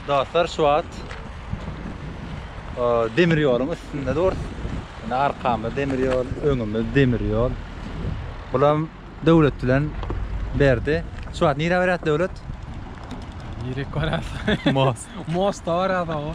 Dostlar şu wagt demir ýoluň üstünde durys. Indi arkamda demir ýol, öňümde demir ýol. Bulam döwlet bilen berdi. Şu wagt nirä beräs döwlet? Nirek beräs? Most. Mosta beräs o.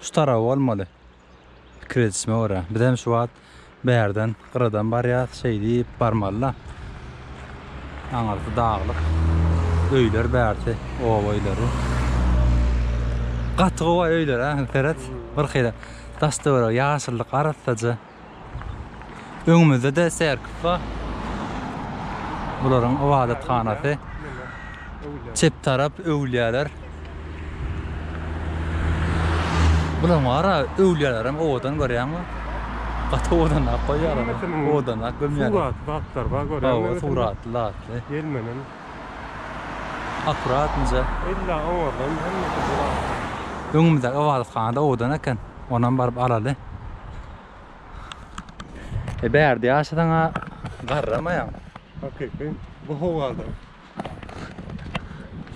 Şu tarap bolmaly. Pikir edişime görä. Biz hem şu wagt bärden gyradan barýas. Şeý diýip barmalyda. Aňyrsy daglyk. Öýler bärsi oba öýleri. Gaty gowy öýler-ä. Seret. Birhili daş-töweregi ýaşyllyk arassaja. Öňümizde-de serkis bar. Bularyň ybadathanasy. Çep tarap öwlüýäler. Bularyň bara öwlüýälerem owadan görýäňmi? Gaty owadanlap goýýarlar. Owadanlap gömýärler. Suratly zatlar bar görýäňmi? Hawa, suratly zatly. Gelmenen. Akurat inje. Illa owadan hemmesi. Öňümizde ybadathanada owadan eken. Onam baryp alaly. E bärde ýaşasaň-a garramaýaň. Hakyky, bu howada.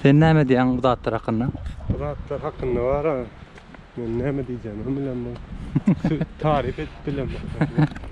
Sen näme diýýäň bu zatlar hakynda? Bu zatlar hakynda bar-a, men näme diýjegimi hem bilemok. Taryp edip bilemok.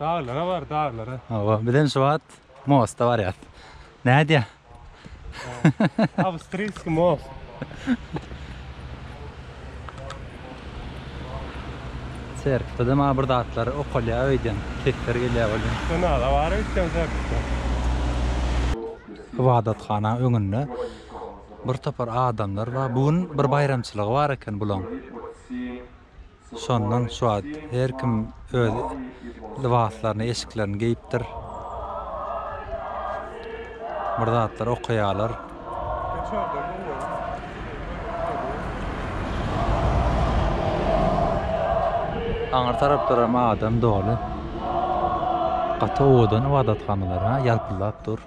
Daglara bar daglara. Hawa biz hem şu wagt mosta barýas. Nädýä? Awstryýski most. Serpde maňa bir zatlar okalýa öýden sesler gelýä welin. Ynada bar öýtseň serpde. Ybadathana öňünde bir topar adamlar bar. Bu gün bir baýramçylygy bar eken bulaň. Şondan şu wagt her kim öz lybaslaryny, eşiklerini geýipdir. Bir zatlar okaýarlar. Aňyr taraplar hem adam doly. Gaty owadan ybadathanalary ýalpyldap dur.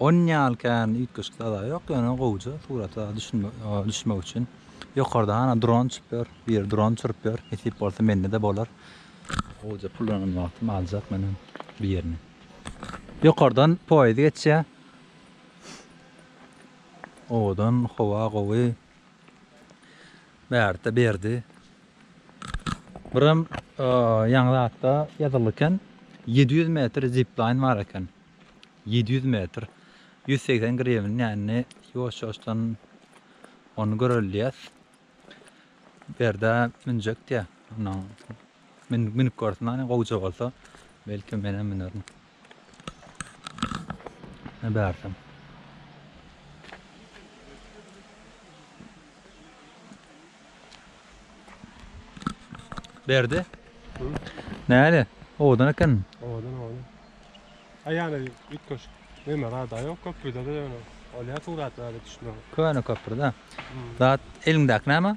Onuň ýaly kän üýtgeşik zada ýok ýöne gowja surata düşmek üçin ýokardan hana dron uçup ýör biri dron uçuryp ýör nesip bolsa mende-de bolar gowja pullanan wagtym aljak men hem birini ýokardan poýez geçýär owadan howa gowy Bärde berdi. Biram ýaňy zatda ýazyldy eken. Ýedi ýüz metr ziplaýn bar eken. Ýedi ýüz metr. Ýüz segsen grewin dänini ýuwaş-ýuwaşdan ony göreliýäs. Bärde münjek diýýä. Münüp görsün hany gowja bolsa. Belki menem münerin. Ne bärsem. Berdi. Näle? Owadan eken. Owadan owadan. Aýana üç köş. Neme rada ýok köprüde de ýöne. Olýa suratlarda düşmüň. Köne köprüde. Zat eliňdäki näme?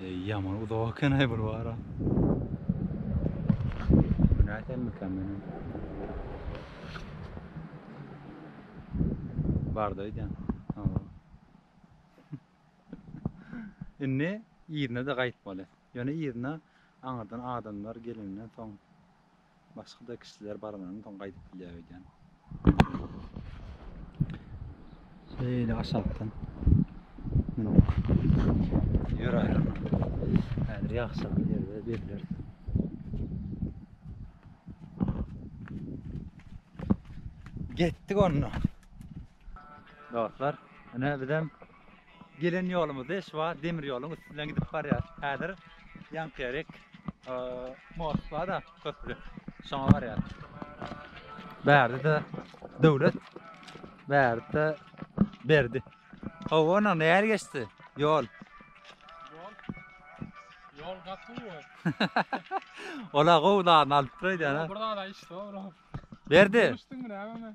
Ey yaman uzak eken ay bir bara. Günaydın mükemmelim. Bardaydı. Indi ýerine de gaýtmaly. Ýöne ýerine aňyrdan adamlar gelenden soň Başga-da kişiler barlanan soň gaýdyp bilýär öýdýän. Şeýle aşakdan mündik. Ýöräýelim. Häzir ýagşylyk ýerde belleris. Getdik onda. Dostlar, ine bizem Gelen ýolumyzda şu wagt demir ýoluň üstünden gidip barýas. Häzir ýankyýerek most bar-da, köpri. Şoňa barýas. Bärde-de döwlet, bärde berdi. Howona nähili geçdi ýol? Ýol gaty gowy. Ola gowy zat alyp dur aýdýan. Bir zada iş zor. Berdi. Düşdüňmi näme?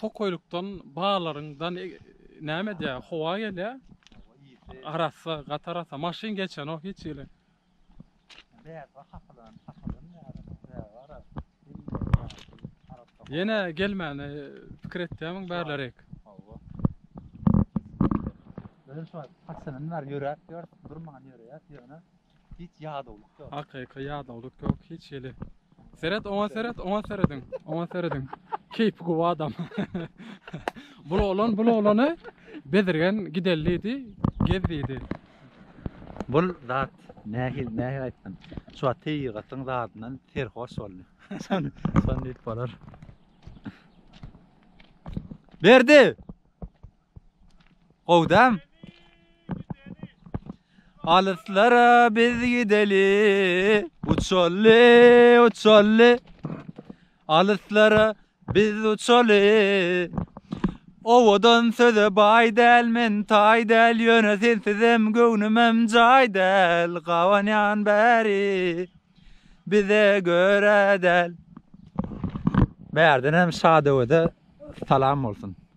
Tokaýlykdan baalaryň dan näme edýä howa gelýä. Arassa gaty arassa maşyn geçenok hiç hili. Ýene gelmäne pikir etýämiň bärlerek. Özüm şo paçadan bäri ýöräp ýörüp durman ýöräýäs ýöne Hiç ýadawlyk ýok. Hakyky ýadawlyk ýok hiç hili. Seret, oňa seret, oňa serediň, oňa serediň. Keýpi gowy adam. bul oglan, bul oglany bezirgen gideli diýdi, gez diýdi. Bul zat nähil, nähil aýtsam, şu wagt tebigatyň zadyndan serhoş boldy. Şon, şon diýip bolar. Berdi! Gowy däm. Alyslara biz gideli, uçaly, uçaly. Alyslara biz uçaly. Owadan söze bay däl men tay däl ýöne sensizem göwnümem jaý däl gabanýan bäri bize görä däl. Bärden hem Şadöwede salam bolsun.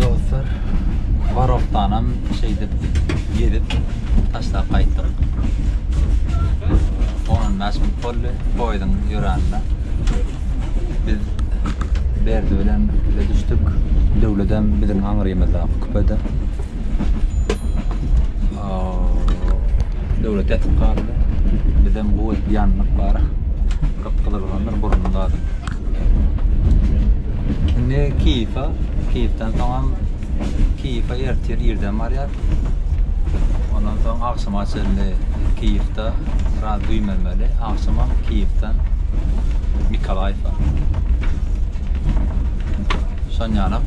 Dostlar, Barokdanam şeýdip gezip taşlap gaýtdyk. 15 minut boldy poýuzyň ýöränine. Biz Berdi bilen bize düşdük. Döwledem biziň aňrymyzda küpede. Döwlet ýatyp galdy. Bizem bu edip ýandyk bara. Gyp-gyzyl boldur burunda. Indi Kiýewa, Kiýewden soňam Kiýewa ertir irden barýar. Ondan soň agşama çenli Kiýewde biraz güýmenmeli. Agşama Kiýewden Mikolaýewa. Şonýanak.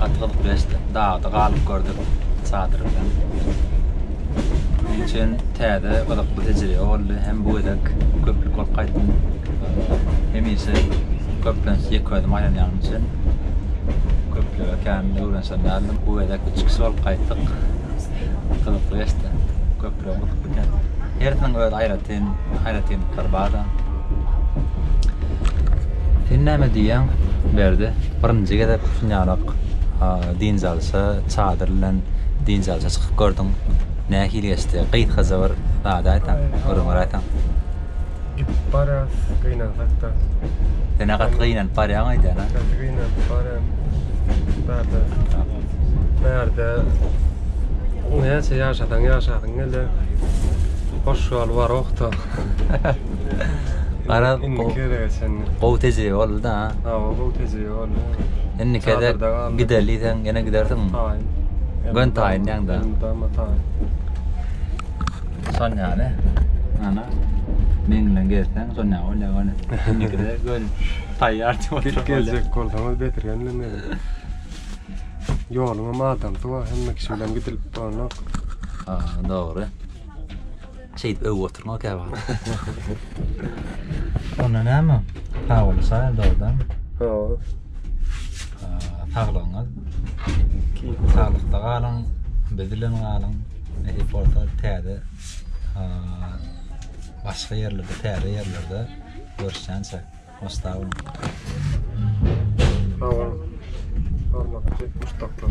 Gaty gyzyp geçdi. Dagda galyp gördük çadyr bilen. Üçin täze gyzykly tejribe boldy. Hem bu gezek köplük bolup gaýtdym. Hemişe köplenç ýeke özüm aýlanýanym üçin köplüge kän öwrenişen däldim. Bu gezek üç kişi bolup gaýtdyk. Gyzykly geçdi. Köplügiň gyzykly eken. Hersiniň öz aýratyn Sen haýratynlyklary bar-da. Sen näme diýýäň, Berdi? Birinji gezek şunýarak dynç alşa, çadyr bilen dynç alşa çykyp gördüň. Nähili geçdi? Gysgaça bir zat aýtaň, gürrüňler aýtaň. Gidip barýas, gynansak-da. Sen-ä gaty gynanyp barýaň öýdýän, a? Gaty gynanyp barýan. Bärde, bärde näçe ýaşasaň ýaşasyň geler. Hoş ýol bar ohta. Garaz indiki gezege çenli. Gowy tejribe boldy da. Hawa gowy tejribe boldy. Indi kede gideli sen ýene gidersiň. Taýyn. Gön taýyn ýaňda. Dama taýyn. Şon ýaly. Ana. Men bilen gezseň şon ýaly bolýar gönä. Indikide gön taýýar diýip oturyp. Gidip geljek bolsaňyz betirgen meni. Ýoluň hem adamsy bar, hemme kişi bilen gidilip bolanok. Ha, dogry. Şeýdip öwüp oturma käwagt. Onda näme? Hawaly şaýy dogrudanmy? Hawa. Saglygyňyz. Saglykda galyň, biz bilen galyň. Nesip bolsa täze başga ýerlerde, täze ýerlerde görüşýänçä. Hoşda boluň. Sag boluň. Hormatly muşdaklar.